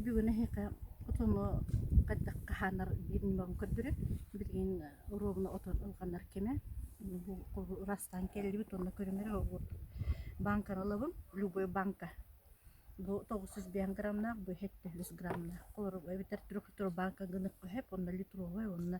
бүгүн эһиэхэ хотону хайдах хаһаанар диир ньымабын көрдөрө. Билигин ровно отон ылҕанар кэмэ. Бу ырастаан кэллибит уонна көрүмэрэ бааҥкаралабын. Любой бааҥка бу тоҕус сүүс биэс грамнаах, бу сэттэ сүүс грамнаах. Олору эбэтэр трехлитровая бааҥка гынык хоһеп уонна литровая уонна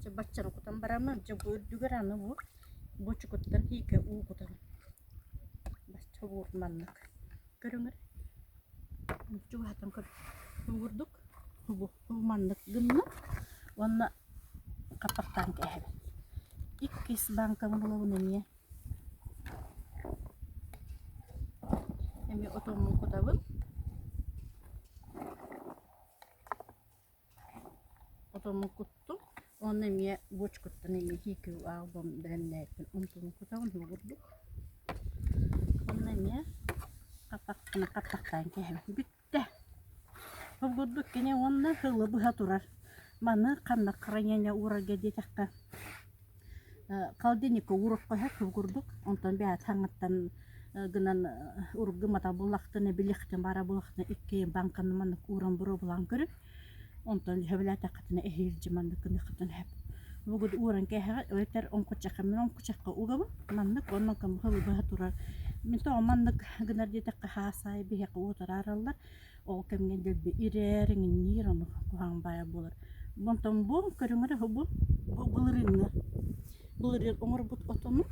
Чэ баччаны кутан бараммын, чэ бу үрдүгэр аны бу бучукуттан тиикэ уу кутан бачча убуур маннык көрүҥэр чугаһатан куурдук убу уу маннык гынна уонна хаппахтаан кээһэбин. Иккис бааҥкам булабын эмиэ эмиэ отоммун кутабын. Отону куттум уонна эмиэ буочкуттан эмиэ тиикиби аалбам бэлэмнээбиппин онтубун кутабын дуу курдук. Уонна эмиэ хаппахпын хаппахтаан кэһэбин. Бүттэ. Ол курдук кини уонна сылы быһа турар. Маны ханна хранение уурарга диэтэххэ Холодильникка уурукка иһэ кылгурдук, онтон бэйэ таҥыттан гынан урут гымматах буоллахтына, билиэхтэн баара буоллахтына, иккиэн бааҥканы маннык ууран буруобулаан көрүҥ. Онтон сөбүлээтэххитинэ эһиги илдьэ маннык гыныаххытын сөп. Бугут ууран кээһэҕэ эбэтэр оҥкуччахха мин оҥкуччахха угабын маннык онно кымыһы быһа турар мин тоҕо маннык гынар диэтэххэ хаас аайы биһиэхэ уотара араллар Ол кэмҥэ дэлби ирээр, иҥниир, ону куһаҕан баайа буолар. Онтон буом көрүҥэр үһү бу, бу былырыыҥҥы. Былырыын оҥорбут отону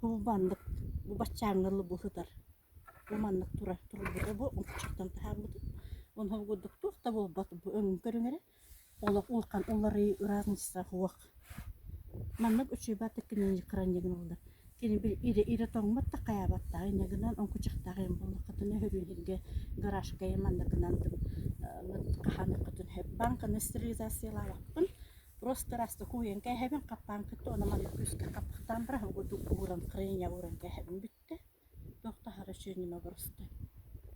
бубаннык, бу баччааҥҥа дылы быһытар. Бу маннык тура турбута бу, омуччуттан таһаарбыта. Ону курдук туох да буолбат бу өҥүн көрүҥэрэ олох улахан уларыйыы ыраатынчытаах уох маннык учуйбаттык кинини кыранньыгын ыллар кини били ирэ ирэ тоҥмот да хайаабаттаах инньэгинэн оҥкучахтаах эм буоллаххытына һөрүүһүргэ гаражкайы мандакынан хаһаныаххытын сөп бааҥканы стерилизациялаабаккын просто раз такуйан кээһэбин хаппаан кытта онно маны күүскэ хаппахтаан баран угутук ууран кырыйан ууран кээһэбин бүттэ туох таһара үчүгэй ньыма обуруста